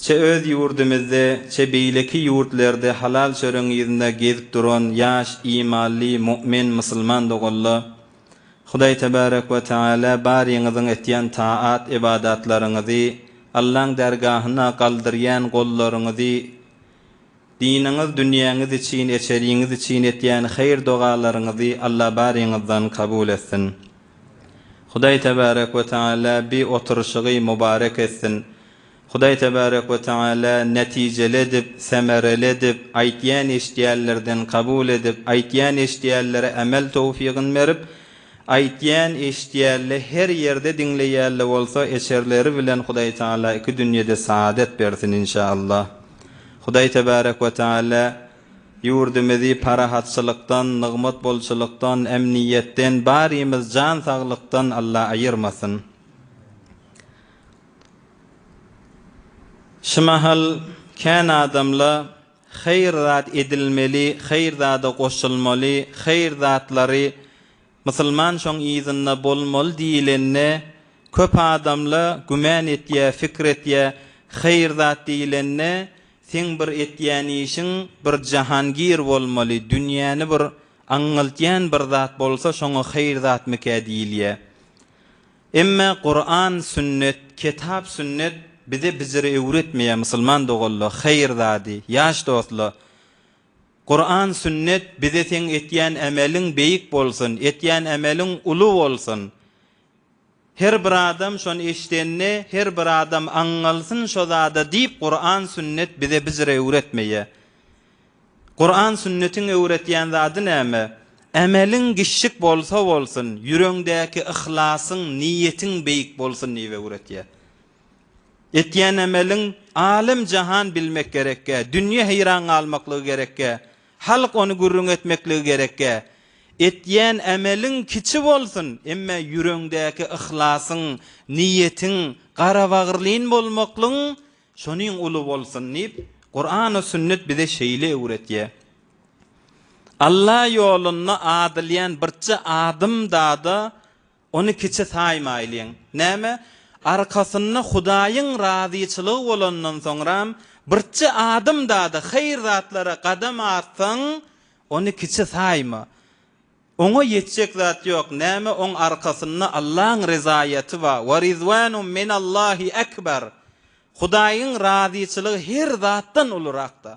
Çe öz ýurdumyzda, çe beýleki ýurtlarda halal çöregiň yzynda gezip duran ýaş imanly mu'min musulman doganlar, Hudaý Tebarek we Teala baryňyzyň etýän taat ybadatlaryňyzy, Allaň dergahyna galdyrýan gollaryňyzy, Diniňiz, dünýäňiz üçin, eçeriňiz üçin etýän haýyr-dogalaryňyzy Alla baryňyzdan kabul etsin. Hudaý Tebarek we Teala bi oturyşygy mubarek etsin. Hudaý Tebarek we Teala netijeli edip, semereli edip, aýtýan-eşidýänlerden kabul edip, aýtýan-eşidýänlere emel towfygyn berip, aýtýan-eşidýänle her ýerde diňleýänle bolsa, eçerleri bilen Hudaý Teala iki dünýede saadet bersin, inşa Allah. Hudaý Tebärek we Teala ýurdumyzy parahatçylykdan, nygmat bolçulykdan, emniýetden, barymyz jan saglykdan Alla aýyrmasyn. Şu mahal kän adamla haýyr zat edilmeli, haýyr zada goşulmaly, haýyr zatlary Musulman şoň yzynda bolmaly diýilende köp adamla güman etýä fikir etýä haýyr zat diýilende seň bir etýän işiň bir jahangir bolmaly dünýäni bir aňňyltýan bir zat bolsa şoňa haýyr zatmykä diýilýä emme Kuran sünnet ketap sünnet bize biziri öwretmeýä musulman doganla haýyr zady ýaş dostla Kuran sünnet bize seň etýän ämeliň beýik bolsun, etýän ämeliň uly bolsun. Her bir adam şony eşdende her bir adam aňňalsyn şo zada diýip Kuran sünnet bize bijir öwretmeýä. Kuran sünnetiň öwretýän zady näme? Ämeliň giçjik bolsa bolsun, ýüreňdäki yhlasyň, niýetiň beýik bolsun diýip öwretýä. Etýän emeliň alem-jahan bilmek gerekkä, dünýe heýran galmaklygy gerekkä, halk ony gürrüň etmekligi gerekkä. Etýän emeliň kiçi bolsun, emme ýüreňdäki yhlasyň, niýetiň, garabagyrlyn bolmaklygyň şonuň uly bolsun diýip, Kurany sünnet bize şeýle öwretýär. Alla ýolunda adylýan birçe adym-dada Ony kiçi saýmaýlyň. Näme, arkasynda Hudaýyň razyçylygy bolandan soňram, birçe adamda-da haýyr zatlara gadam atsaň, ony kiçi saýma. Oňa ýetjek zat ýok. Näme, oň arkasynda Allaň ryzaýaty bar, Wa rizwanum minallahi akbar. Hudaýyň razyçylygy her zatdan ulurakda.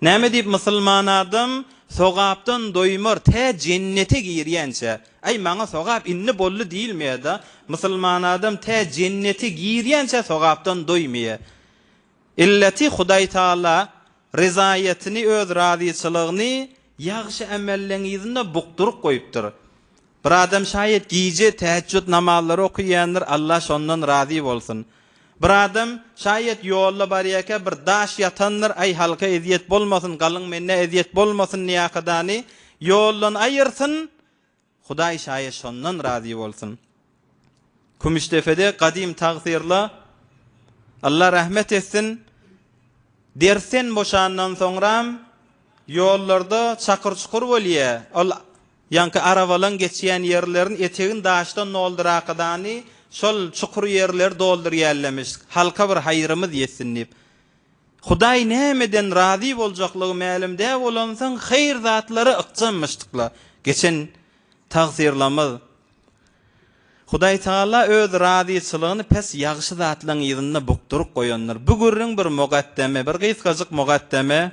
Näme diýip musulman adam sogapdan doýmar tä jennete girýänçä? Aý maňa sogap indi boldy diýilmeýä-da, musulman adam tä jennete girýänçä sogapdan doýmaýa. Illeti Hudaý Taala ryzaýatyny öz razyçylygyny ýagşy ämelleňizinde bukduryp goýupdyr. Bir adam şaýat gije täheçjut namazlary okaýandyr, Alla şondan razy bolsun. Bir adam şaýat ýolda barýarka bir daş ýatandyr, aý halka ezýet bolmasyn, galyň mennä ezýet bolmasyn diýäkadany ýoldan aýyrsyn, Hudaý şaýat şondan razy bolsun. Kümüşdepede gadym tagsyrly, Alla rahmet etsin, dersden boşandan soňram ýollarda çakyr-çukur bolýa, ol. Ýaňky arabalaň geçýän ýerlerin etegin daşdan dolduraakadany şol çukur ýerleri doldurýällemiş, halka bir haýyrymyz ýetsin diýip. Hudaý nämeden razy boljaklygy mälim dä bolansoň haýyr zatlara ykjammyşdykla. Geçen tagsyrlamyz. Hudaý Tagala öz razyçylygyny pes ýagşy zatlaň yzynda bukduryp goýandyr. Bu gürrüň bir mugaddeme, bir gysgajyk mugaddeme.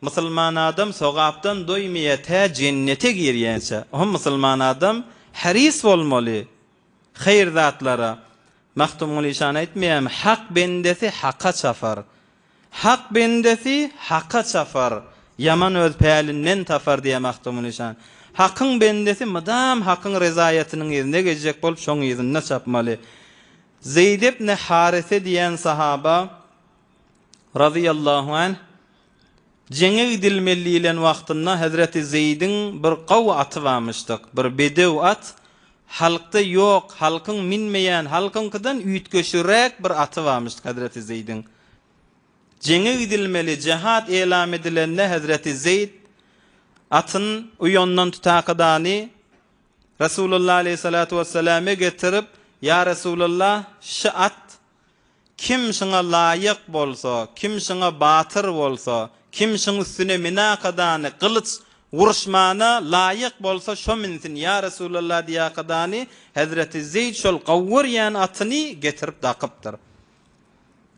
Musulman adam sogapdan doýmaýar tä jennete girýänçä. Hom musulman adam heris bolmaly haýyr zatlara. Magtymguly şany aýtmaýarmy, Hak bendesi Haka çapar. Hak bendesi Haka çapar, ýaman öz pälinden tapar diýýär Magtymguly şan. Hakyň bendesi mydam Hakyň rezaýatynyň yzyna gezjek bolup şoň yzynda çapmaly. Zeýd ibn Harise diýen sahaba razyýallahu anh, jeňe gidilmeli diýlen wagtynda hezreti Zeýdiň bir gawy aty barmyşdyk, bir bedew at, halkda ýok, halkyň minmeýän, halkyňkydan üýtgeşigräk bir aty barmyşdyk hezreti Zeýdiň. Jeňe gidilmeli, jehat elam edilende hezreti Zeýd atyn uýandan tutakydany Resulullah aleýhissalatu wessalame getirip, Ýa Resulullah, şy at, Kim şuňa laýyk bolsa, kim şuňa batyr bolsa, kim şuň üstüne minakadany, gylyç, uruşmana laýyk bolsa, şo minsin, ýa Resulalla diýakadany, hezreti Zeýd şol gawurýan atyny getirip dakypdyr.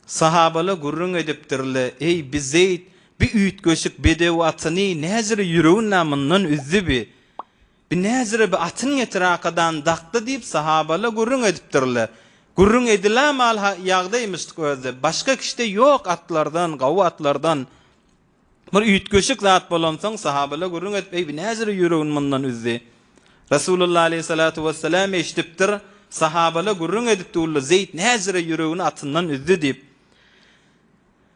Sahabala gürrüň edipdirle, Eý, bi Zeýd, bi üýtgeşik bedew atyny näjire ýüregin-ä mundan üzdi bi? Bi näzire bi atyn getir akadan dakdy diýip sahabala gürrüň edipdirler. Gürrüň edilämal ha ýagdaýmyşdyk özde. Başga kişide ýok atlardan, gawy atlardan. Bir üýtgeşik zat bolansoň sahabala gürrüň edip eý bi näzire ýüregini mundan üzdi. Resulullah aleýhi salatu wessalam eşidipdir, sahabala gürrüň edipdi uly Zeýd näzire ýüregini atyndan üzdi diýip.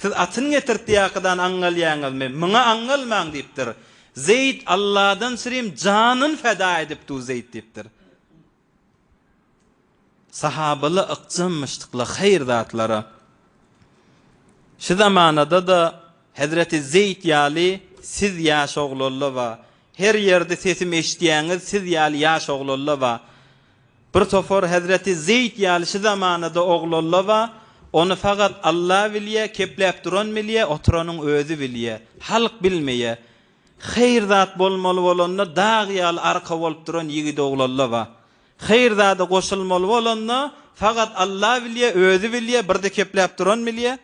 Siz atyny getirtýäkydany aňňalýaňyzmy? Muňa aňňalmaň! diýipdir. Zeýd, Alladan süreyim, janyny feda edip dur, Zeýd! diýipdir. Sahabalar ykjammyşdyklar haýyr zatlara. Şu zamanada-da hezreti Zeýd ýaly siz ýaş oglanlar bar. Her ýerde sesim eşidýäňiz, siz ýaly ýaş oglanlar bar. Bir topar hezreti Zeýd ýaly şu zamanada oglalla ba, ony fagat Alla bilýä, kepläp duran bilýä, oturanyň özi bilýä. Halk bilmeýä. Heýr zat bolmaly bolanda dag ýaly arka bolup duran ýigit oglalla ba. Heýr zada goşulmaly bolanda fagat Alla bilýä, özi bilýä, birde kepläp duran bilýä.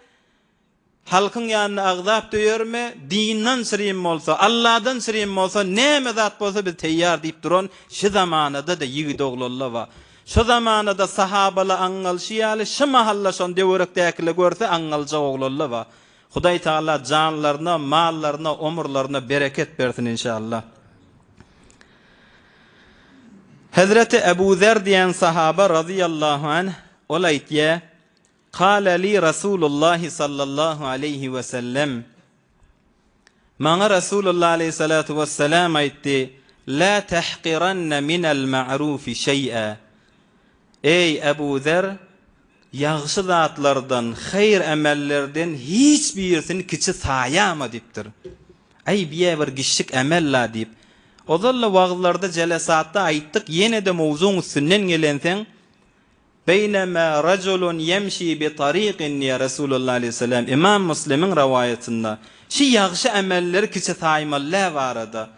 Halkyň ýanyna agzap döýermi? Dindan syrym bolsa, Alladan syrym bolsa, näme zat bolsa biz teýýar diýip duran şy zamanada-da ýigidoglalla ba. Şo zamanada sahabala aňňalşy ýaly şy mahalla şon döwerekdäkile görse aňňaljak oglalla ba. Hudaý Tagala janlaryna, mallaryna, omurlaryna bereket bersin inşallah. Hezreti Ebu Zer diýen sahaba razyýallahu anh ol aýtýa, Kâle lî Resûlullâhi sallallahu aleýhi we sellem, Maňa Resulullah aleýhissalatu wesselam aýtdy, Lâ tehqirenne minel ma'rufi şeý'e, Eý, Ebu Zer, ýagşy zatlardan, haýyr emellerden hiç birisini kiçi saýama diýipdir. Aý, bu-ýa bir kiçijik emel-la diýip, ozal-da wagyzlarda, jelesatda aýtdyk, ýene-de mowzugyň üstünden gelenseň, Beýnema rajulun ýemşi bi tarikin diýýär Resulullah aleýhissalam, Ymam Muslimiň rowaýatynda, şu ýagşy emelleri kiçi saýmalylär barada,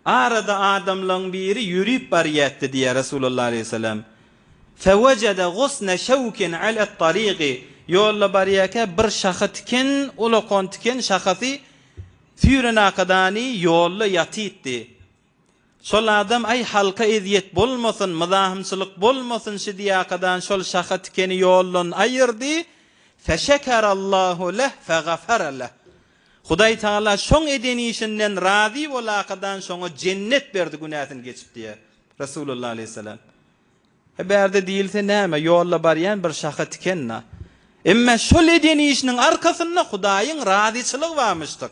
Arada adamlaryň biri ýörüp barýardy diýýär Resulullah aleýhissalam, Fewejede gusne şewkin alet tariki, ýolda barýarka bir şaha tiken, ulakan tiken şahasy süýrenakadany ýolda ýatypdy. Şol adam aý halka ezýet bolmasyn, myzahymçylyk bolmasyn şidýakadan şol şaha tikeni ýoldan aýyrdy, Feşekerallahu leh fegafere leh. Hudaý Tagala şoň eden işinden razy bolakadan şoňa jennet berdi günäsini geçip diýýär Resulullah aleýhissalam. He bärde diýilse näme ýolda barýan bir şaha tikenna. Emma şol eden işiniň arkasynda Hudaýyň razyçylygy barmyşdyk.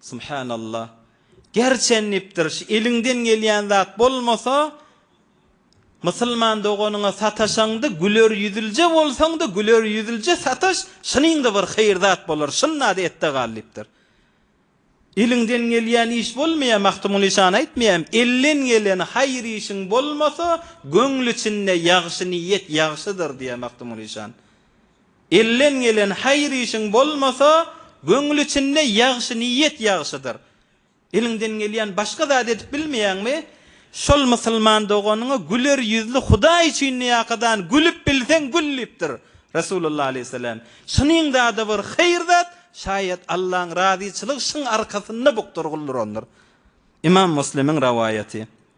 Subhanallah. Gerçen dipdir şu eliňden gelýän zat bolmasa Musulman doganyňa sataşaňda güler ýüzlje bolsaňda güler ýüzlje sataş şynyňda bir haýyr zat bolar şyndada etde gal dipdir. Eliňden gelýän iş bolmaýa Magtymguly şany aýtmaýamy elden gelen haýyr işiň bolmasa göňli içinde ýagşy niýet ýagşydyr diýä Magtymguly şan. Elden gelen haýyr işiň bolmasa, göňül içinde ýagşy niýet ýagşydyr. Eliňden gelýän başga zady edip bilmeýäňmi? Şol musulman doganyňa güler ýüzli Hudaý üçin niýakadan gülüp bilseň gül diýipdir Resulullah aleýhissalam. Şunuň zady bir haýyr zat, şaýat Allaň razyçylygy şuň arkasynda bukdur, gul durandyr. Ymam Muslimiň rawaýaty.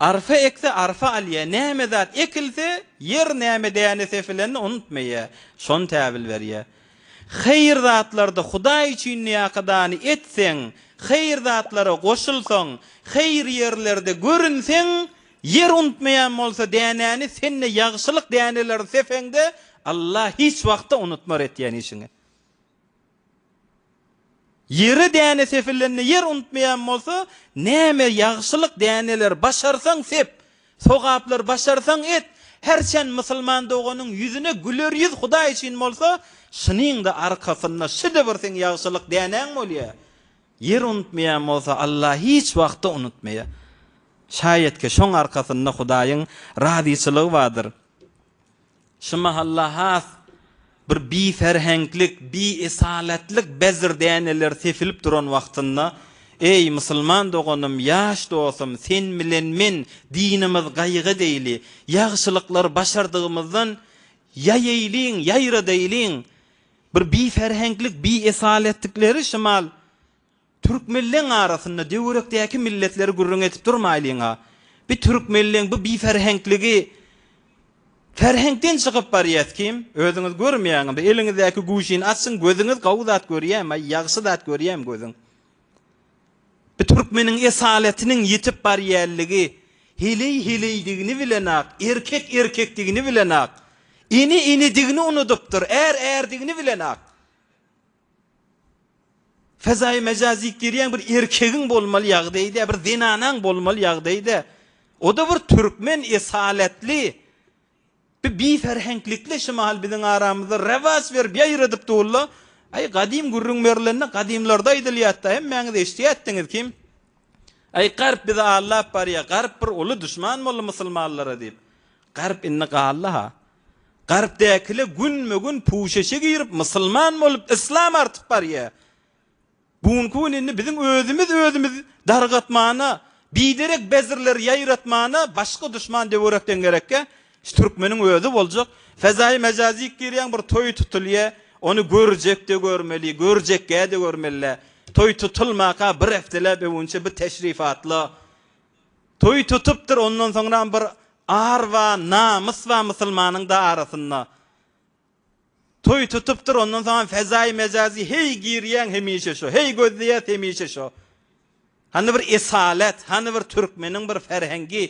Arpa ekse arpa alýa, näme zat ekilse, ýer näme däne sepilenini unutmaýa, şony täbil berýä. Haýyr zatlarda Hudaý üçin näkydany etseň, haýyr zatlara goşulsaň, haýyr ýerlerde görünseň, ýer unutmaýan bolsa dänäni, sen-de ýagşylyk däneleri sepeňde, Allah hiç wagtda unutmar etýän işiňi. Ýere däne sepilende ýer unutmaýan bolsa, näme ýagşylyk däneleri başarsaň sep, sogaplar başarsaň et, her çen musulman doganyň ýüzüne güler ýüz Hudaý üçin bolsa, şunyň-da arkasynda şide bir seň ýagşylyk dänäň bolýar. Ýer unutmaýan bolsa, Allah hiç wagtda unutmaýar. Şaýatke, şoň arkasynda Hudaýyň razyçylygy bardyr. Şu mahalla has bir biferheňklik, biesalatlyk bezir däneleri sepilip duran wagtynda, Eý, musulman doganym, ýaş dostum, sen bilen men, dinimiz gaýga deýli, ýagşylyklary başardygymyzdan ýaýaýlyň, ýaýradaýlyň! Bir biferheňklik, biesalatlikleri şumal Türkmenleň arasynda döwerekdäki milletleri gürrüň edip durmaýlyň-a. Bi türkmenleň bu biferhenkligi Ferheňkden çykyp barýas kim? Özüňiz görmeýäňiz bi eliňizdäki guşini açyň gözüňiz gowy zat görýäm-aý ýagşy zat görýäm gözüň. Bi türkmeniň esaletiniň ýetip barýanligi heleý heleýdigini bilenok erkek erkekdigini bilenok ene enedigini unudypdyr är ärdigini bilenok. Fezaýy mejaz diýip girýän bir erkegiň bolmaly ýagdaýy-da, bir zenanaň bolmaly ýagdaýy-da, o-da bir türkmen esaletli bir biferheňklikle şymaly biziň aramyzda rewaç berip, ýaýradyp dur-la. Aý, gadym gürrüň berilende gadymlarda aýdylýat-da, hemmäňiz eşidýärdiňiz kim? Aý, Garp bizi aldap barýar, Garp bir uly duşman boldy musulmanlara diýip. Garp indi galdy-ha, Garpdäkiler günbe-gün puşeşe girip, musulman bolup, yslam artyp barýar. Bu günki gün indi biziň özümiz özümizi dargatmana, biderek bezirleri ýaýratmana başga duşman töwerekden gerekkä, şu türkmeniň özi boljak. Fezaýy mejazyk girýäň, bir toý tutulýar, ony görjek-de görmeli, görjekkä-de görmeli. Toý tutulmaka bir hepdeläp öwünçä bir teşrifatla Toý tutupdyr ondan soňram bir ar ba namys ba musulmanyň da arasynda. Toý tutupdyr ondan soňam fezaýy mejazy heý girýäň hemişe şo heý gözleýäs hemişe şo. Hany bir esalet hany bir türkmeniň bir ferhengi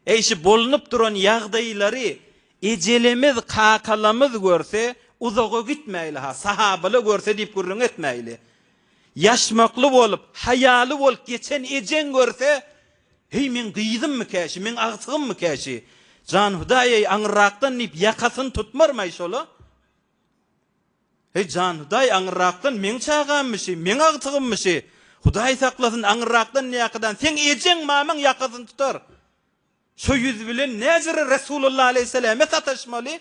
eý şu bolunup duran ýagdaýlary ejelemiz kakalamyz görse uzaga gitmäýli ha sahabala görse diýip gürrüň etmäýli. Ýaşmakly bolup, haýaly bolup geçen ejeň görse, Heý, meň gyzymmy-kä şu, meň agtygymmy-kä şu? Jan Hudaý-eý, aňyrrakdan diýip, ýakasyny tutmarmaý şol-a. Heý, jan Hudaý, aňyrrakdan meň çagammy şu, meň agtygymmy şu? Hudaý saklasyn, aňyrrakdan näkadan seň ejeň-mamaň ýakasyny tutar. Şo ýüz bilen näjere Resulalla alaýhyssalamä sataşmaly?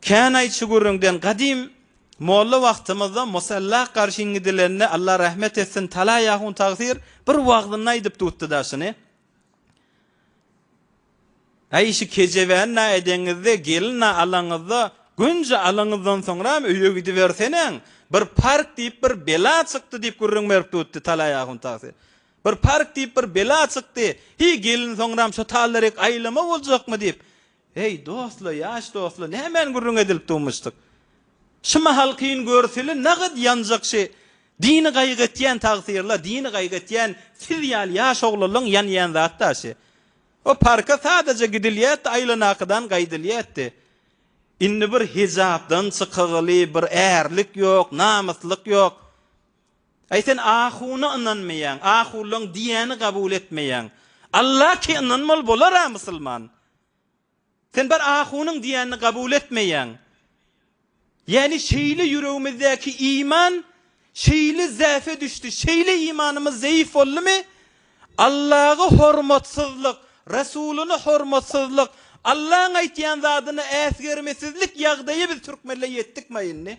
Känaý şu gürrüňden gadym molla wagtymyzda musalla garşyn gidilende Alla rahmet etsin talaý ahun tagsyr bir wagzynda aýdyp tutdy-da şuny, Äý şu kejebäni na edeňizde gelin na alaňyzda gönje alaňyzdan soňram öýe gidiberseneň bir park diýip bir bela çykdy diýip gürrüň berip tutdy talaý ahun tagsyr. Bir park diýip bir bela çykdy, hiý gelin soňram şo tallerik aýlama boljakmy diýip Heý, dostlar, ýaş dostlar, nämän gürrüň edilip duwmuşdyk? Şu mahal kyn görseli nagt ýanjak şi dini gaýgy etýän tagsirler, dini gaýgy etýän siz ýaly ýaş oglanlaň ýanýan zat-da şi. O parka sadaja gidilýärdi, aýlanakydan gaýdylýardy. Indi bir hijapdan çykagyly bir ärlik ýok, namyslyk ýok. Aý sen ahuna ynanmaýaň, ahullaň diýýäni gabul etmeýäň. Alla ki ynanmaly bolara musulman. Sen bir ahunyň diýänini gabul etmeýäň. Ýani şeýle ýüregimizdäki iman şeýle zäfe düşdi, şeýle imanymyz zeýif boldumy, Allagy hormatsyzlyk, Resulyny hormatsyzlyk, Allaň aýtýan zadyny äsgermesizlik ýagdaýy biz türkmenle ýetdikma indi.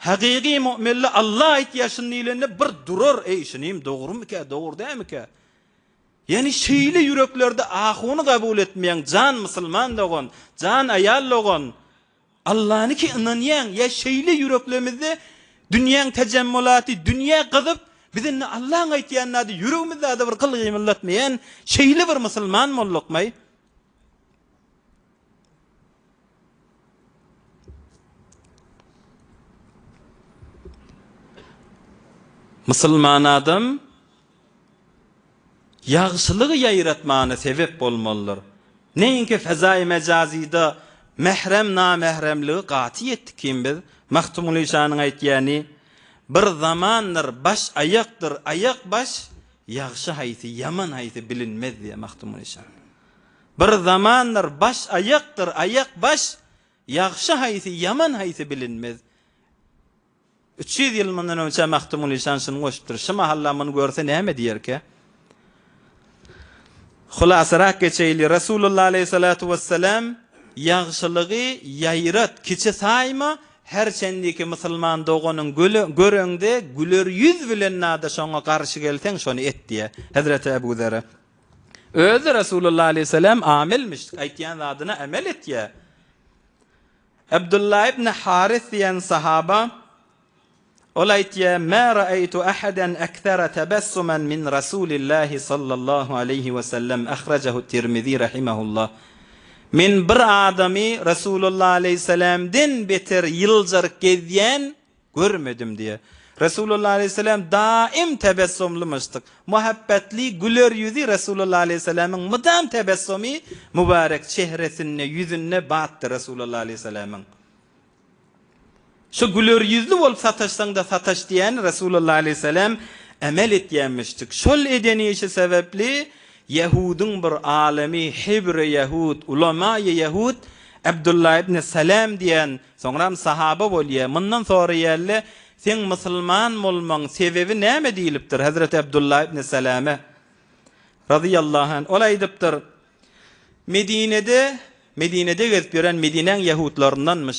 Hakyky mu'mille Alla aýt ýaşyn diýlende bir durar eý şunym dogrymikä dogry dämikä? Ýani şeýle ýüreklerde ahuny gabul etmeýäň jan musulman dogan, jan aýal dogan Allanyky ynanýaň ýa şeýle ýüreklemizde dünýäň tejemmulaty dünýä gyzyp biz indi Allaň aýtýan zady ýüregimiz zada bir gyl-gymyldatmaýan şeýle bir musulman boldukmaý? Musulman adam ýagşylygy ýaýratmana sebep bolmalydyr. Näinki fezaýy mejazyda mährem-namähremligi gaty ýetdi kim biz? Magtymguly şanyň aýtýany, Bir zamandyr baş aýakdyr, aýak baş, Ýagşy haýsy, ýaman haýsy bilinmez, diýýär Magtymguly Pyşan. Bir zamanlar baş aýakdyr, aýak baş, ýagşy haýsy, ýaman haýsy bilinmez. Üç ýüz ýyl mundan öňçä Magtymguly Pyşan şuny goşupdyr. Şu mahal-a muny görse näme diýerkä? Hulasarak geçeýli, Resulullah aleýhisalatu wessalam, Ýagşylygy ýaýrat, kiçi saýma, Her çendiki musulman doganyň göreňde güler ýüz bilen nada şoňa garşy gelseň şony et diýýär. Hezreti Ebu Zere özi Resulullah aleýhisselam amelmiş, aýtýan zadyna amel etýär. Abdullah ibn Haris diýen sahaba Ol aýtýa, Mä raeýtu ahadan aksara tabassuman min Rasulillahi sallallahu aleýhi we sellem, ahrajahu Tirmizi rahimahullah. Men bir adamy Resulullah aleýhissalamdan beter ýyljaryk gezýän görmedim diýýä. Resulullah aleýhissalam daim tabassumlymyşdyk. Muhabbetli, güler ýüzi Resulullah aleýhissalamyň mydam tabassumy mübarek çehresinde, ýüzünde batdy Resulullah aleýhissalamyň. Şu güler ýüzli bolup sataşsaň-da sataş diýýäni Resulalla aleýhisselam emel etýänmişdik. Şol eden işi sebäpli ýahudyň bir alymy, hebre ýahud, ulamaýy ýahud Abdullah ibn Salam diýýän, soňram sahaba bolýar, mundan soraýarlar, Seň musulman bolmaň sebebi näme diýlipdir Hazreti Abdullah ibn Salama, razyýallahu anh, ol aýdypdyr, Medinede, Medinede gezip ýören Medinäň ýahudlaryndanmyş.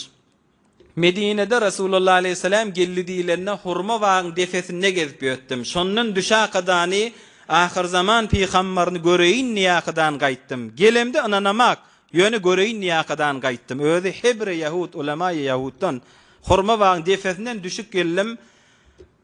Medinede Resulullah aleýhissalam geldi diýlende hurma bagyň depesinde gezip ýötdüm. Şondan düşäkadany, ahyrzaman pygambaryny göreýin diýäkadan gaýtdym. Gelemde ynanamak, ýöne göreýin diýäkadan gaýtdym. Özi Hebre ýahud, ulemaýy ýahuddan. Hurma bagyň depesinden düşüp geldim.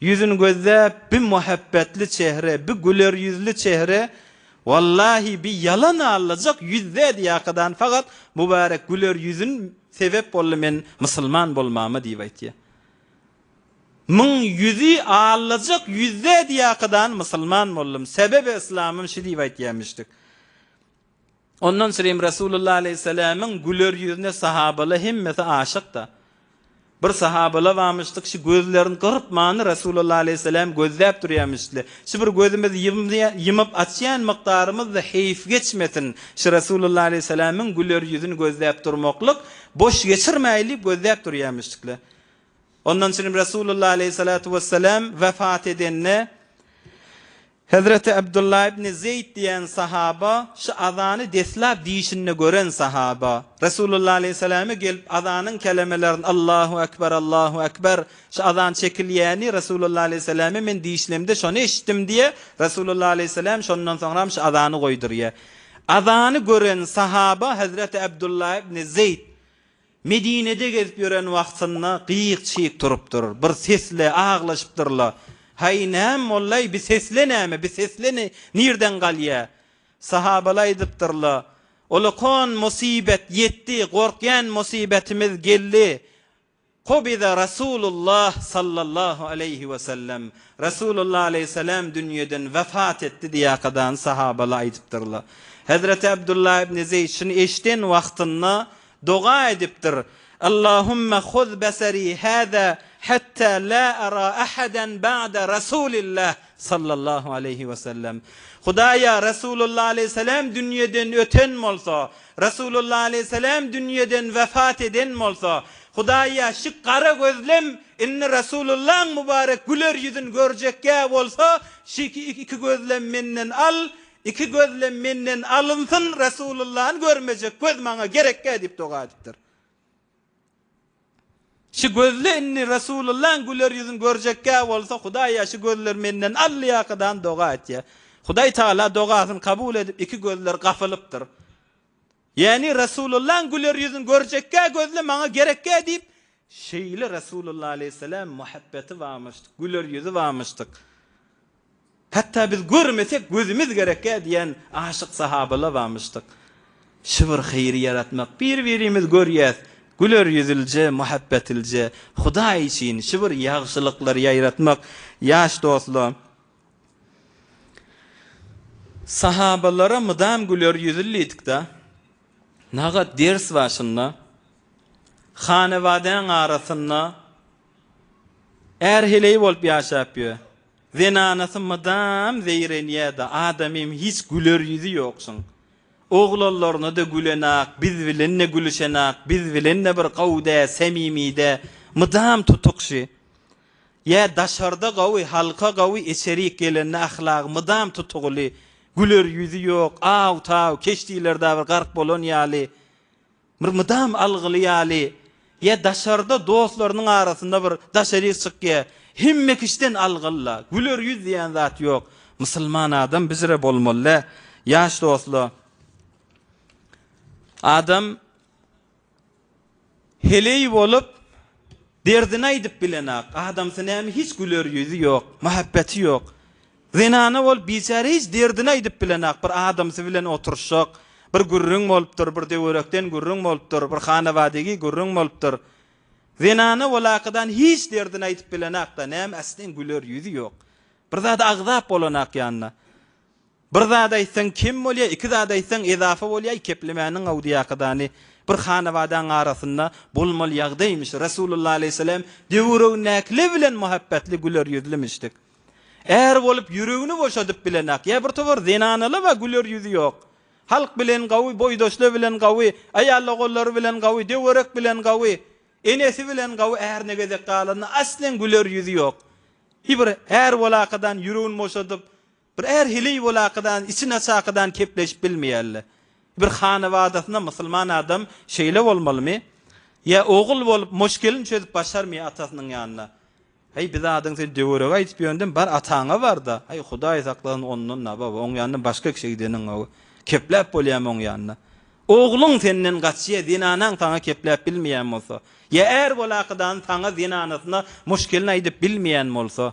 Ýüzün gözläp bi muhabbetli çehre bi güler ýüzli çehre wallahi bi ýalan allajak ýüz dädi ýakadan fagat mubarek güler ýüzün sebep boldy men musulman bolmama diýip aýtýa Myň ýüzi allajak ýüz dädi ýakadan musulman boldum sebebe islamym şi diýip aýtýa müşrik. Ondan sürem Resulullah aleýhissalamyň güler ýüzüne sahabala hemmesi aşykda. Bir sahabala bamyşdyk şy gözlerini gyrpmany Resulullah aleýhissalam gözläp durýamyşdly. Şy bir gözümizi ýymyp açýan mykdarymyzda heýf geçmesin şy Resulullah aleýhissalamyň güler ýüzüni gözläp durmaklyk boş geçirmäýli gözläp durýamyşdykly. Ondan sürem Resulullah aleýhissalatu wessalam wefat edende. Hezreti Abdullah ibn Zeýd diýen sahaba, şu azany deslap diýişinde gören sahaba, Resulullah aleýhissalama gelip azanyň kelemelerini Allahu akbar, Allahu akbar, şu azan çekilýäni Resulullah aleýhissalama men diýişlemde şony eşitdim diýýär, Resulullah aleýhissalam şondan soňram şu azany goýdurýar. Azany gören sahaba Hezreti Abdullah ibn Zeýd. Medinede gezip ýören wagtynda gyýyk-çyýk turupdyr. Bir sesle aglaşypdyr-la, Haý, näme boldaý, bi sesle näme, bi sesle nirden galýa? Sahabaly aýdypdyr-la, Olakon musybet ýetdi, gorkýan musybetimiz geldi, Kobiza Rasulullah sallallahu aleýhi we sellem, Rasulullah aleýhissalam dünýeden wepat etdi diýäkadany sahabaly aýdypdyr-la. Hezreti Abdullah ibn Zeýd şuny eşiden wagtynda Doga edipdir, Allahumma huz basari hada hatta la ara ahadan ba'da Rasulillah sallallahu aleýhi we sellem. Hudaýa Rasulullah aleýhissalam dünýeden öten bolsa, Rasulullah aleýhissalam dünýeden wepat eden bolsa, Hudaýa şi gara gözlem indi Rasulullaň mubarek güler ýüzün görjek ýa bolsa, şi iki gözlem menden al, Iki gözlem menden alynsyn, Resulullany görmejek göz maňa gerekgä diýip doga edipdir. Şu gözle indi Resulullaň güler ýüzün görjekgä bolsa Hudaýa şu gözler menden allyýakadan doga etýär. Hudaý Tagala dogasyny kabul edip iki gözler gapylypdyr. Ýäni Resulullahyň güler ýüzüni görjekgä gözle maňa gerekgä diýip, şeýle Resulullah aleýhisselam muhabbeti barmyşdyk, güler ýüzi barmyşdyk. Hatda biz görmesek gözümiz gerekgä diýen aşyk sahabalar barmyşdyk. Şu bir haýry ýaratmak, bir-birimizi görýäs, güler ýüzlije, muhabbetlije, Hudaý üçin şu bir ýagşylyklary ýaýratmak, ýaş dostlar! Sahabalara mydam güler ýüzli diýdik-de, nagat ders başynda hanabadaň arasynda är heleý bolup ýaşap ýör. Zenanasy mydam zeýrenýär-de, adamym hiç güler ýüzi ýoksuň. Oglanlaryna-da gülenok, biz bilen-de gülüşenok, biz bilen-de bir gowy-dä, samimy-dä, mydam tutukşy. Ýa daşarda gawy, halka gawy, içerik gelende ahlagy mydam tutugyly, güler ýüzi ýok, aw-taw, keşdilerdä bir gark bolan ýaly, bir mydam algyly ýaly, ýa daşarda dostlarynyň arasynda bir daşaryk çykýa, hemme kişiden algyly-la, güler ýüz diýen zat ýok. Musulman adam bizre bolmaly-dä, ýaş dostlar. Adam. Heleý bolup, derdini aýdyp bilenok. Adamsy näme, hiç güler ýüzi ýok, mähebbeti ýok. Zenana bolup, biçäre hiç derdini aýdyp bilenok. Bir adamsy bilen oturyşjak, bir gürrüň bolupdyr, bir töwerekden gürrüň bolupdyr, bir hanabadigi gürrüň bolupdyr. Zenana walakydan hiç derdini aýdyp bilenok-da, näme, aslen güler ýüzi ýok. Bir zady agzap bolanok ýanyna. Bir zat aýtsaň kem bolýa iki zat aýtsaň ezafa bolýa keplemäniň awdyýakadany bir hanabadaň arasynda bolmaly ýagdaýmyş Resulullah aleyhisselam döwüregindäkile bilen muhabbetli güler ýüzlimişdik är bolup ýüregini boşadyp bilenak ýa bir towar zenanalaba güler ýüzi ýok halk bilen gawy boýdaşla bilen gawy aýalogolary bilen gawy döwerek bilen gawy enesi bilen gawy ärine gezek galanda aslen güler ýüzi ýok bir är bolakadan ýüregini boşadyp Bir är heleý bolakadan, içi naçakadan kepleşip bilmeýärle. Bir hanabadasyna musulman adam şeýle bolmalymy? Ýa ogul bolup, moşgelini çözüp başarmy atasynyň ýanyna? Heý, bir zadyň sen döwerege aýdyp ýöndem, bar ataňa bar-da. Heý, Hudaý saklasyn ondan-a, baba, oň ýanyna başga kişä gideniň, hawa. Kepläp bolýamy oň ýanyna? Ogluň senden gaçýa, zenanaň saňa kepläp bilmeýän bolsa? Ýa är bolakadan saňa zenanasyna moşgelini aýdyp bilmeýän bolsa?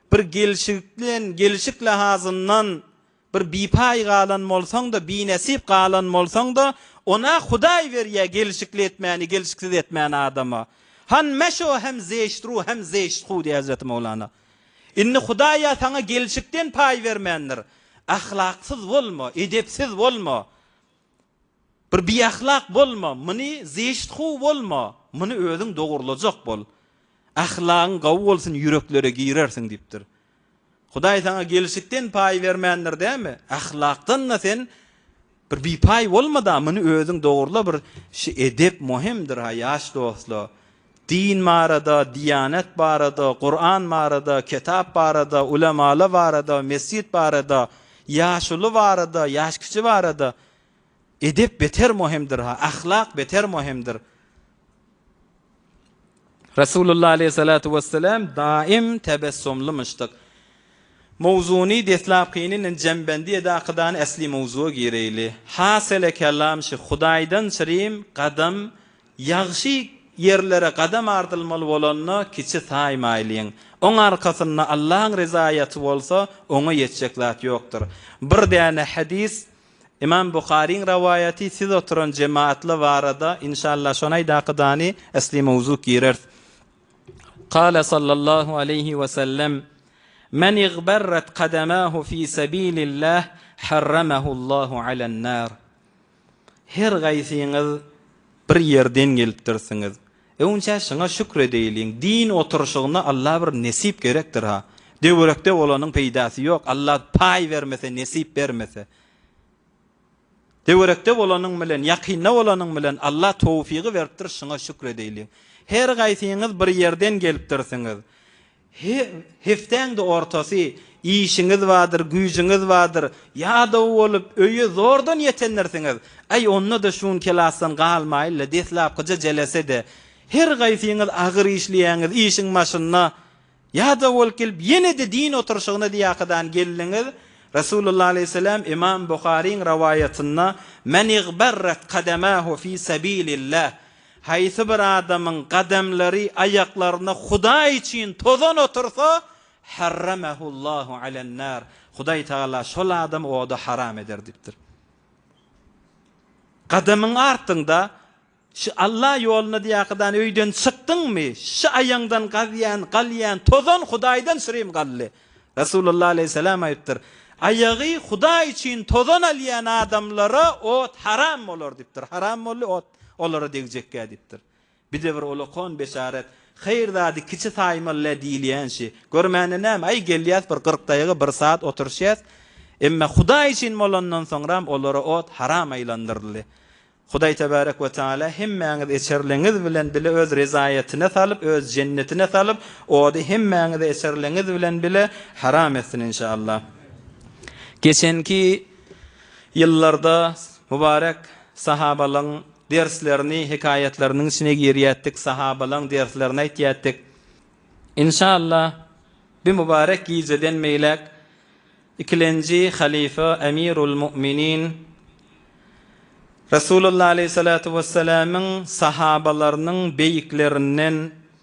Bir gelşikden, gelşik lahazyndan bir bipaý galan bolsaň-da, binesip galan bolsaň-da, on-a Hudaý berýär gelşikli etmäni, gelşiksiz etmäni adama. Han meşo hem zeşt ru hem zeşt hu diýýär Hezreti Mowlana. Indi Hudaý-a saňa gelşikden paý bermändir. Ahlaksyz bolma, edepsiz bolma. Bir biahlak bolma, muny zeşt how bolma, muny özüň dogurlajak bol. Ahlagyň gawy bolsun ýüreklere girersiň diýipdir. Hudaý saňa gelşikden paý bermändir dämi? Ahlakdan-da sen bir bipaý bolma-da, muny özüň dogurla bir şu edep muhimdir-ha ýaş dostlar. Din barada, Diýanet barada, Kuran barada, Kitap barada, Ulemala barada, Mesjit barada, Ýaşuly barada, Ýaşkiçi barada. Edep beter mohimdir-ha, ahlak beter mohimdir. Resulullah aleýhissalatu wessalam daim tebessumlymyşdyk. Mowzuny deslapkynyny jembendi edi akydan esli mowzuga gireýli. Hasele kelam şu, Hudaýdan çirim, gadam, Ýagşy ýerlere gadam ardylmaly bolanda kiçi saýmaýlyň. Oň arkasynda Allaň ryzaýaty bolsa, oňa ýetjek zat ýokdur. Bir däne hadys, Imam Buharyň rawaýaty, siz oturan jemaatla barada, inşallah şony aýdakydany asly mowzuk gireris. Kâle sallallahu aleýhi we sellem, Men igberret kademahu fi sebilillah harramahu Allahu alen-nar. Her gaýsyňyz bir ýerden gelipdirsiňiz. Öňçä şuňa şükür edeýliň. Din oturyşygyna Alla bir nesip gerekdir-ha. Döwrekde bolanyň peýdasy ýok, Alla paý bermese, nesip bermese. Döwrekde bolanyň bilen, ýakynda bolanyň bilen Alla towfygy beripdir, şuňa şükür edeýliň. Her gaýsyňyz bir ýerden gelipdirsiňiz. Her hepdäň-de ortasy işiňiz bardyr, güýjüňiz bardyr, ýadaw bolup, öýe zordan ýetendirsiňiz. Aý, onda-da şu gün kelasdan galmaýyl-la, deslapkyja jelese-de, her gaýsyňyz agyr işleýäňiz, işiň başynda ýadaw bolup gelip, ýene-de din oturyşygyna diýäkadan geldiňiz. Resulullah aleýhissalam Ymam Buharyň rowaýatynda, Men igberret kademahu fi sabilillah, Haýsy bir adamyň gadamlary, aýaklarynda Hudaý üçin tozan otursa, harramahullahu alan-nar, Hudaý Tagala şol adamy oda haram eder diýipdir. Gadamyň artyňda şu Alla ýoluna diýäkadan öýden çykdyňmy, şu aýaňdan gazýan, galýan tozan Hudaýdan şirim gally. Resulullah aleýhissalam aýypdyr, Aýagy Hudaý üçin tozan alýan adamlara ot haram bolar diýipdir. Haram boldy ot. Olara degjekgä diýipdir. Bize bir ulakon beşaret, Haýyr zady kiçi saýmaly-le diýilýänşi. Görmäne näme, aý, gelýäs, bir gyrk daýga, bir saat oturyşýas. Emma Hudaý üçin bolandan soňram olara ot haram aýlandyryldy. Hudaý tebärek we teala hemmäňizi eçerligiňiz bilen bile Öz rezaýatyna salyp, Öz jennetine salyp, ody hemmäňize eçerligiňiz bilen bile haram etsin, inşa Allah. Geçenki Ýyllarda Mübarek sahabalaň derslerini hekaýatlarynyň içine girýätdik, sahabalaň derslerini aýtýatdik. Inşallah bi Mübarek gijeden beýläk ikilenji halyfa Emirul Mu'minin Resulullah Aleyhissalatu Wessalamyň sahabalarynyň beýiklerinden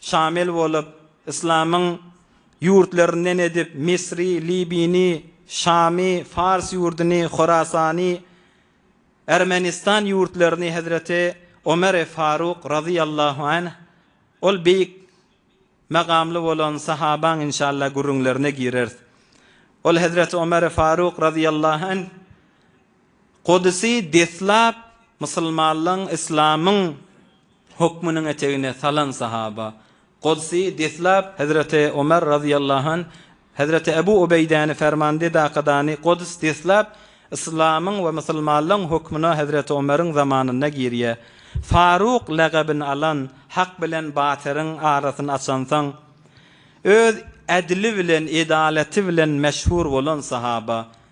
şamil bolup, yslamyň ýurtlaryndan edip, Misri, Libini, Şamy, Fars ýurduny, Horasany, Ermenistan ýurtlaryny hezreti Omeri Faruk razyýallahu anh, ol beýik magamly bolan sahabaň inşalla gürrüňlerine gireris. Ol hezreti Omeri Faruk razyýallahu anh, Gudusy deslap musulmanlygyň, yslamyň Hukmunyň etegine salan sahaba. Godsy deslap Hezreti Omar razyýallahu anh, Hezreti Ebu Ubeýdäni fermande dakadany Gods deslap Yslamyň we musulmanlygyň hukmuna Hezreti Omaryň zamanynda girýä. Faruk lagabyn alan, hak bilen batyryň arasyn açansoň öz edli bilen edalaty bilen meşhur bolan sahaba.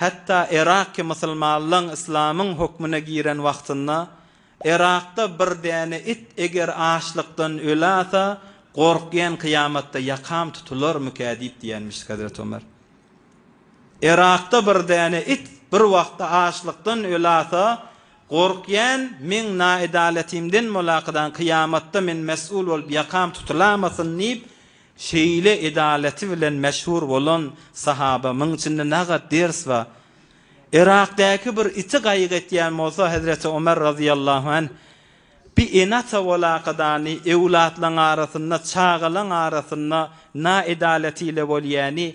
Hatda Yraky musulmanlaň yslamyň hökmüne giren wagtynda Yrakda bir däne it eger açlykdan ölasa gorkýan kyýamatda ýakam tutularmyka diýip diýenmişdi Hazreti Ömer. Yrakda bir däne it bir wagtda açlykdan ölasa gorkýan meň naedaletymden molakydan kyýamatda men mesul bolup ýakam tutulamasyn diýip Şeýle edalaty bilen meşhur bolan sahaba muň içinde nagat ders ba. Yrakdäki bir iti gaýyk etýän bolsa Hezreti Omer razyýallahu anh, Bi ene-ata bolakadany, öwlatlaň arasynda, çagalaň arasynda na edalaty ile bolýany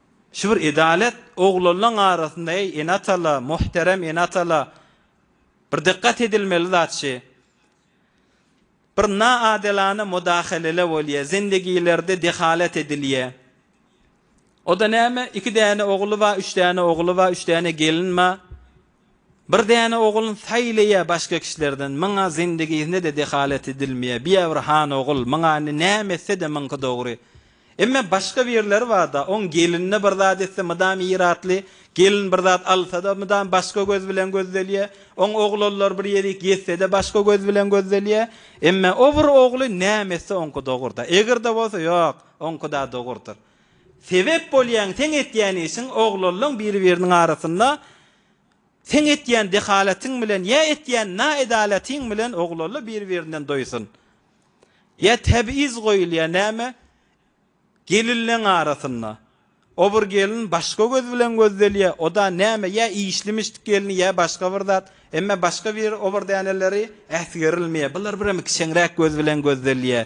Şu bir edalet oglanlaň arasynda eý ene-atala, muhterem ene-atala bir dykgat edilmeli zat şi, bir na adilana mudahalele bolýa, zindegilerde dehalet edilýä. O-da näme, iki däne ogly ba, üç däne ogly ba, üç däne gelin ba, Bir däne ogul saýlaýa başga kişilerden myňa zindigisinde-de dehalet edilmeýä biýa bir han ogul myňa indi näme etse-de myňky dogry emma başga birleri barda oň gelinine bir zat etse mydam iratly gelin bir zat alsada mydam başga göz bilen gözdelýä oň oglanlar bir ýerik ýetsede başga göz bilen gözdelýä emma o bir ogly näme etse oňky dogurda egrde bolsa ýok oňkyda dogurdyr. Sebep bolýaň seň etýän işiň oglanlaň biri biriniň arasynda seň etýän dehalatyň bilen ýa etýän na edalatyň bilen oglanla biri birinden doýsun ýa tebiz goýulýa näme gelinleň arasynda obr gelin başga göz bilen gözdelýä oda näme ýa işlimişt gelini ýa başga bir zat emme başga bir obr däneleri äsgerilmýä bular birem kiçeňräk göz bilen gözdelýä.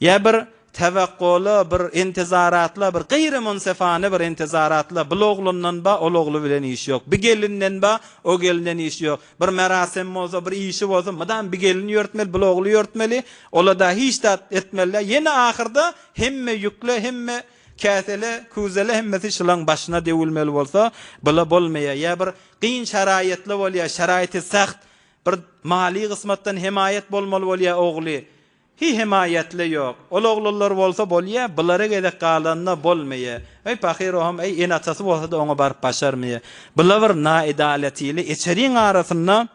Ýa bir tewekgoly, bir intizaratly, bir gyýrymynsafany bir intizaratly, bul oglundan ba, ol ogly bilen işi ýok, bi gelinden ba, o gelinden işi ýok, bir merasem bolsa, bir işi bolsa, mydam bi gelini ýörtmeli, bul ogly ýörtmeli, ola-da hiç zat etmeli däl, ýene ahyrda hemme ýükle, hemme käsele, küzele hemmesi şylaň başyna döwülmeli bolsa, bula bolmaýar. Ýa bir gyn şaraýatly bolýar, şaraýaty sagt, bir maliý gysmatdan hemaýat bolmaly bolýar ogly, Hi hemaýatle ýok. Ol oglanlar bolsa bolýa, bulara gezek galanda bolmaýa. Eý pahyr ohm eý ene atasy bolsada oňa baryp başarmaýa. Bula bir naedalatili eçeriň arasynda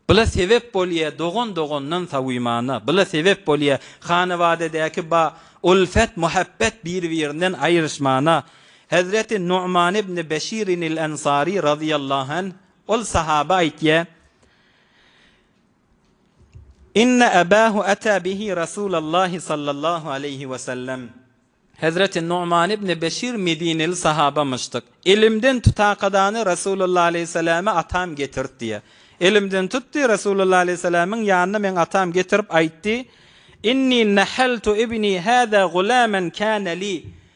bula sebep bolýa dogan dogandan sawymana. Bula sebep bolýa hanabadadäki ba ulfet muhabbet bir birinden aýryşmana. Hezreti Numan ibni Beşirinil Ensari razyýallahu anh ol sahaba aýtýa, Inne Abahu ata bihi Rasulallahi sallallahu aleýhi we sellem, Hezreti Nu'man ibni Beşir medineli sahabamyşdyk. Elimden tutakadany Rasulullah aleýhissalama atam getirt diýýär. Elimden tutdy, Rasulullah aleýhissalamiň ýanyna meň atam getirip aýtdy, Inni nahaltu ibni hada gulaman kana li,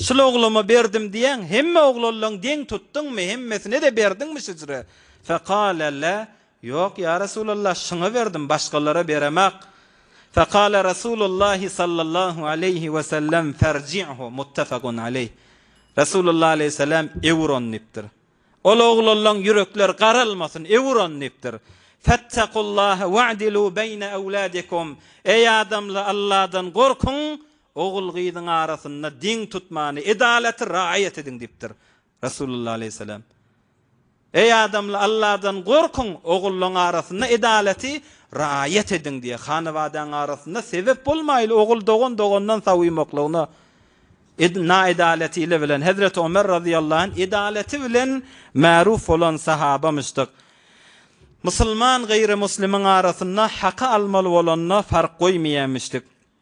Şul ogluma berdim diýýäň, hemme oglanlaň deň tutduňmy, hemmesine-de berdiňmi şüjre? Fekale, La, Ýok, ýa Resulallah, şuňa berdim, başgalara beremak. Fekale Resulullahi sallallahu aleýhi we sellem, Ferji'hu, muttefegun aleýh. Resulullah aleýhissalam, Ewür ony diýipdir. Ol oglanlaň ýürekleri garalmasyn, ewür ony diýipdir. Fettakullaha wa'dilu beýne ewladikum, Eý adamla, Alladan gorkuň, Ogul-gyzyň arasynda deň tutmany, edalaty raýat ediň diýipdir. Resulullah aleýhissalam, Eý adamla Alladan gorkuň, ogullaň arasynda edalaty raýat ediň diýýär. Hanabadaň arasynda sebep bolmaýly ogul dogan dogandan sawuýmaklygyna ed naedalaty ile bilen Hezreti Omer razyýallahu anh edalaty bilen märuf bolan sahabamyşdyk. Musulman gyry muslimyň arasynda haky almaly bolanda fark goýmaýamyşdyk.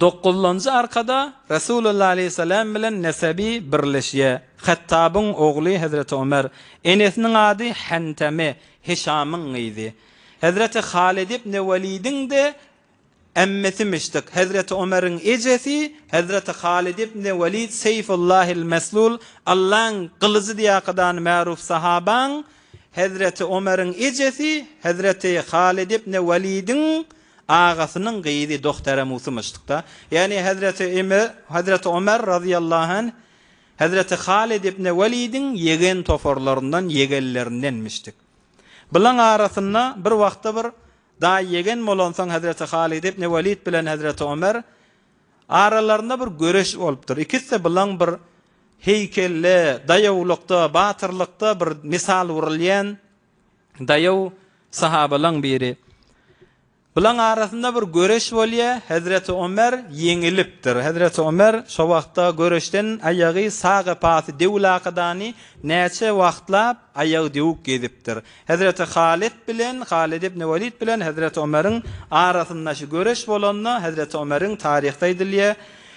Dokuzynjy arkada Resulullah aleýhissalam bilen nesebi birleşýär. Hattabyň ogly hezreti Ömer. Enesiniň ady Henteme, Hişamyň gyzy. Hezreti Halyt ibni Welidiň-de emmesimişdik. Hezreti Ömeriň ejesi Hezreti Halyt ibni Welid Seýfullahil Meslul, Allaň gylyjy diýäkadany märuf sahabaň Hezreti Ömeriň ejesi Hezreti Halyt ibni Welidiň Agasynyň gyzy Dohtere Musymyşdykda, ýagny hezreti Ime, hezreti Omer razyýallahu anh, hezreti Halid ibne Welidiň ýegen toparlaryndan, ýegenlerindenmişdik. Bulaň arasynda bir wagtda bir daýy ýegen bolansoň hezreti Halid ibne Welid bilen hezreti Omer aralarynda bir göreş bolupdyr. Ikiside bulaň bir heýkelde, daýawlykda, batyrlykda bir mysal wurulýan Daýaw sahabalaň biri, Bulaň arasynda bir göreş bolýa, hezreti Omer ýeňilipdir. Hezreti Omer şo wagtda göreşden aýagy sag epasy dewülakadany näçe wagtlap aýagy dewük gezipdir. Hezreti Halit bilen, Halit ibn Walid bilen hezreti Omeriň arasynda şu göreş bolanda hezreti Omeriň taryhda aýdylýa,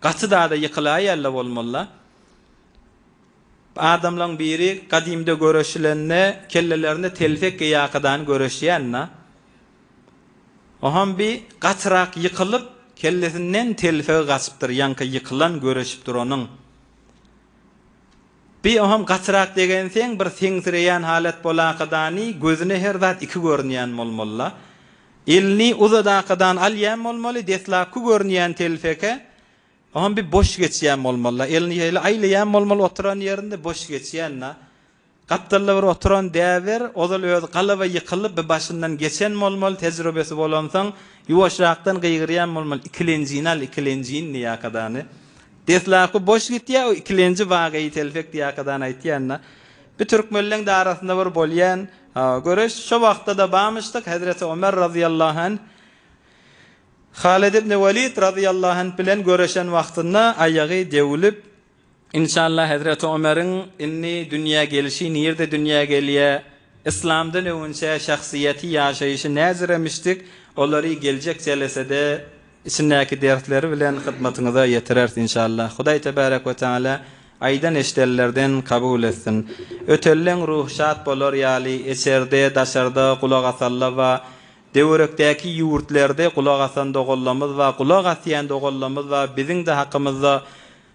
Gaty dada ýykylaýella bolmalyla. Adamlaň biri gadymda göreşilende kellelerinde telpek geýakydan göreşýänina. Oham bi gatyrak ýykylyp kellesinden telpegi gaçypdyr ýaňky ýykylan göreşip duranyň. Bi oham gatyrak degenseň bir seňsireýän halat bolakydany gözüne her zat iki görünýän bolmalyla. Elini uzadakadan alýan bolmaly, deslapky görünýän telpeke oňa bir boş geçýän bolmaly-da. Elini şeýle aýlaýan bolmaly, oturan ýerinde boş geçýän-de. Gapdalda bir oturan däber, ozal özi galaba ýykylyp, bir başyndan geçen bolmaly, tejribesi bolansoň, ýuwaşrakdan gygyrýan bolmaly, Ikilenjini al, ikilenjini diýäkadany. Deslapky boş gitýär, o ikilenji wageýi telpek diýäkadany aýtýan-da. Bir türkmenleň-de arasynda bir bolýan. Hawa, göreş şo wagtda-da barmyşdyk, hezreti Ömer razyýallahu anh Halid ibn Walid razyýallahu anh bilen göreşen wagtynda aýagy döwülip, Inşallah hezreti Ömeriň indi dünýä gelişi nirde dünýä gelýä, yslamdan öňünçä şahsyýeti, ýaşaýşy näziremişdik, olary geljek jelesede içindäki dersleri bilen hyzmatyňyza ýetireris inşallah Hudaý tebärek we teala aýdan eşidenlerden kabul etsin Ötelleň ruhy şat bolar ýaly eçerde daşarda gulak asalla ba döwerekdäki ýurtlerde gulak asan dogallamyz ba gulak asýan dogallamyz ba biziňde hakymyzda